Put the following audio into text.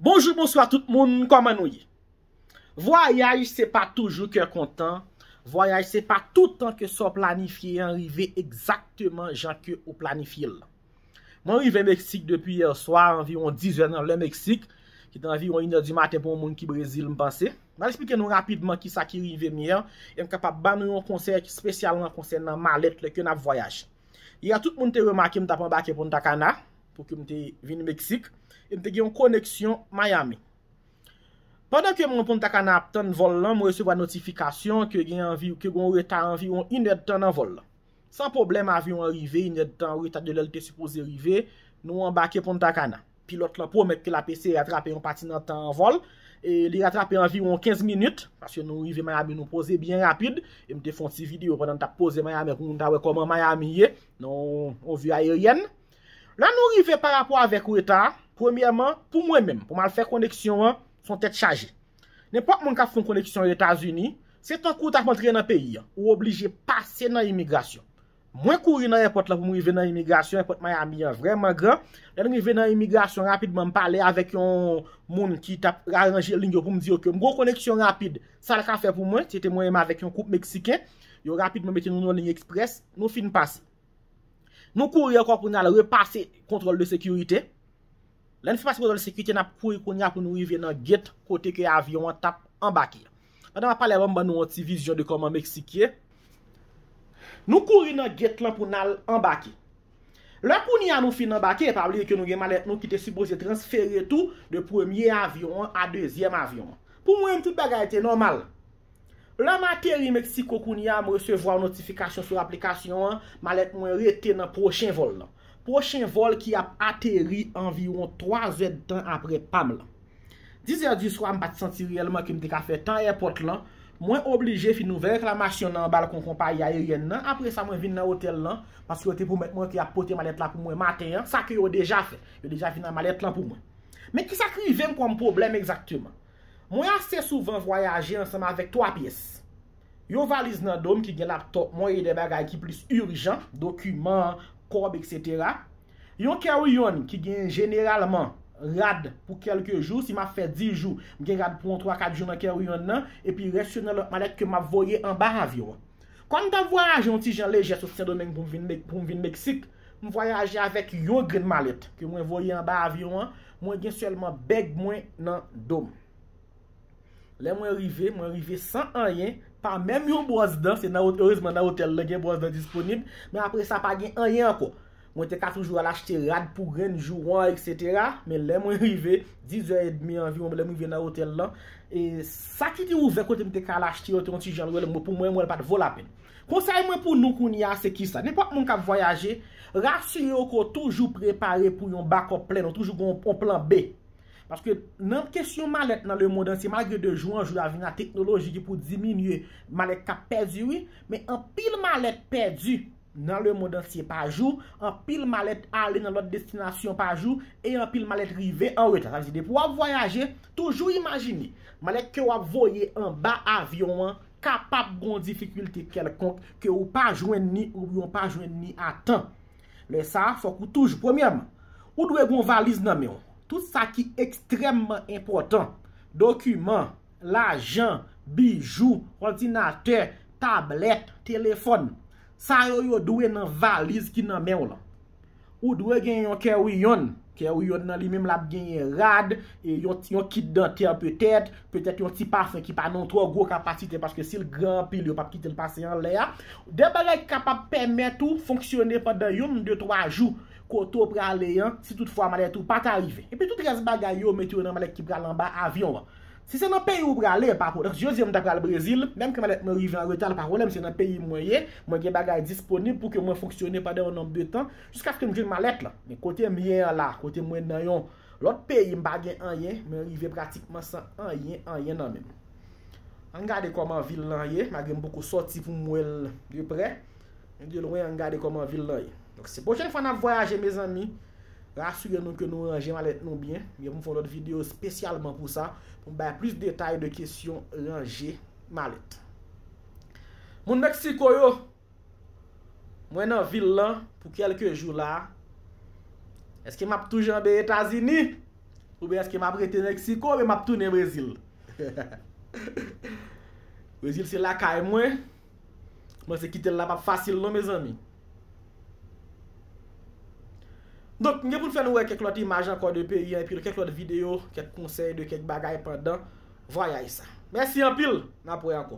Bonjou bonswa tout moun kòman nou ye vwayaj se pa toujou kè kontan vwayaj se pa toutan ke sa w planifye an rive egzakteman jan ke ou planifye l mwen rive meksik depi yèswa anviwon 10 zè nan lè meksik ki te anviwon inè di maten pou yon moun ki brezil m panse m al esplike nou rapidman kisa ki rive m yè e m kapab ban nou yon konsèy ki spesyalman konsènan malèt lè ke n ap vwayaj yè tout moun te remake m t ap anbake pontacana. Pou ke m te vin Meksik, e m te gen yon koneksyon Miami. Pandan ke m nan Punta Cana ap tann vòl lan, mwen resevwa notifikasyon ke gen anvi, ke gen yon reta anviwon inèdtan nan vòl lan. San pwoblèm avyon an rive inèdtan an reta de lè l te sipoze rive, nou anbake Punta Cana. Pilòt lan pwomèt ke l ap eseye ratrape yon pati nan tan an vòl, e li ratrape anviwon 15 minit, paske nou rive Miami nou poze byen rapid, e m te fè yon ti videyo pandan n t ap poze Miami pou moun ta wè kòman Miami ye, nan yon vi ayeryèn. La nou rive pa rapò avèk reta a, premyèman, pou mwen menm, pou m al fè koneksyon an, s on tèt chaje. Nenpòt moun k ap fè yon koneksyon Etazini, se tankou w t ap antre nan peyi an, ou oblije pase nan imigrasyon. Mwen kouri nan èpòt la pou m rive nan imigrasyon, èpòt Miami an vrèman gran, lè n rive nan imigrasyon rapidman m pale avèk yon moun ki t ap aranje liy yo pou m di yo ke m gen yon koneksyon rapid, sa l ka fè pou mwen, se te mwen menm avèk yon koup Meksiken, yo rapidman mete nou nan yon liy eksprès, nou fin pase. Nou kouri ankò pou n al repase kontwòl de sekirite. Lè n fin pase kontwòl de sekirite, n ap kouri kounye a pou nou rive nan gate kote ke avyon an t ap anbake. Pandan m ap pale a, ban m ban nou yon ti vizyon de kòman Meksik ye. Nou kouri nan gate lan pou n al anbake. Lè kounye a nou fin anbake, pa bliye ke nou gen malèt nou ki te sipoze transfere tou de premye avyon an a dezyèm avyon an. Pou mwen menm tout bagay te nòmal. Lè m ateri Mexico kounye a, m resevwa yon notifikasyon sou aplikasyon an, malèt mwen rete nan pwochen vòl lan. Pwochen vòl ki ap ateri anviwon 3 zèdtan apre pa m lan. Dizè di swa m pa t santi reyèlman ke m te ka fè tan èpòt lan, mwen oblije fin ouvè reklamasyon nan balkon konpayi ayeryèn nan, apre sa mwen vin nan otèl lan, paske yo te pwomèt mwen ke y ap pote malèt la pou mwen maten an, sa ke yo deja fè. Yo deja vin ak malèt lan pou mwen. Men kisa k rive m kòm pwoblèm egzakteman? Mwen ase souvan vwayaje ansanm avèk twa pyès. Yon valiz nan do m ki gen laptòp mwen e de bagay ki plis ijan, dokiman, kòb eksetera. Yon carry-on ki gen jeneralman rad pou kèlke jou, si m ap fè 10 jou, m gen rad pou yon twa kat jou nan carry-on nan, epi rès yo nan lòt malèt ke m ap voye anba avyon an. Kòm m t ap vwayaje yon ti jan lejè sot Sendomeng pou m vin Meksik, m vwayaje avèk yon grenn malèt ke mwen voye anba avyon an, mwen gen sèlman bèg mwen nan do m. Lè mwen rive, mwen rive san anyen, pa menm yon bwòs dan, se nan erezman nan otèl lan gen bwòs dan disponib, men apre sa pa gen anyen ankò. Mwen te ka toujou al achte rad pou grenn jou wan etc. Men lè mwen rive, 10 zè edmi anviwon lè mwen rive nan otèl lan, e sa ki te ouvè kote m te ka al achte yo te yon ti jan lwen, mwen pou mwen mwen l pa t vo lapenn. Konsèy mwen pou nou kounye a se kisa? Nenpòt moun k ap vwayaje, rasire w ke w toujou prepare pou yon bakòp plèn, ou toujou gen yon plan B. Paske nan kesyon malèt nan lemond antye malgre de jou an jou a vin a teknoloji ki pou diminye malèt k ap pèdi wi, men anpil malèt pèdi. nan lemond antye pa jou, anpil malèt ale nan lòt destinasyon pa jou, e anpil malèt rive an reta. Sa vle di depi w ap vwayaje, toujou imajine, malèt ke w ap voye anba avyon an kapab gon difikilte kèlkonk ke ou pa jwenn ni oubyen w pa jwenn ni a tan. Lè sa a, fòk ou toujou, premyèman, ou dwe gon valiz nan men w. Tout sa ki ekstrèmman enpòtan, dokiman. lajan, bijou, òdinatè, tablèt, telefòn. Sa yo yo dwe nan valiz ki nan men w lan. Ou dwe gen yon carry-on. Carry-on nan li menm l ap genyen rad, yon kit dantè petèt, petèt yon ti pafon ki pa nan yon twò gwo kapasite paske si l gran anpil yo p ap kite l pase anlè a. De bagay ki kapab pèmèt ou fonksyone pandan yon, de, twa jou kote w prale an si tout fwa malèt ou pa ta rive. Epi tout rès bagay yo mete yo nan malèt ki pral anba avyon an. Si se nan peyi ou prale, pa pwoblèm. Jodi an m ta pral Brezil, menm ke malèt mwen rive an reta l pa pwoblèm, se nan peyi mwen ye, mwen gen bagay disponib pou ke mwen fonksyone pandan yon nonb de tan, jiskaske m jwenn malèt la. Men kote m ye an la, kote mwen nan yon lòt peyi m pa gen anyen, mwen rive pratikman san anyen, anyen nan men m. An n gade kòman vil lan ye, malgre m poko sòti pou m wè l de prè, men de lwen an n gade kòman vil lan ye. Donk si pwochèn fwa n ap vwayaje mezanmi, Rasire nou ke nou ranje malèt nou byen. Mwen gen pou m fè yon lòt videyo spesyalman pou sa, pou m bay plis detay de kesyon ranje malèt. Moun Meksiko yo, mwen nan vil lan pou kelke jou la. Eske m ap tou janbe Etazini? Oubyen eske m ap rete Meksiko oubyen m ap tounen Brezil? Brezil se lakay mwen, M panse kite l la pap fasil non mezanmi. Donk m gen pou n fè nou wè kèk lòt imaj ankò de peyi an epi kèk lòt videyo, kèk konsèy de kèk bagay pandan vwayaj sa. Mèsi anpil, n ap wè ankò.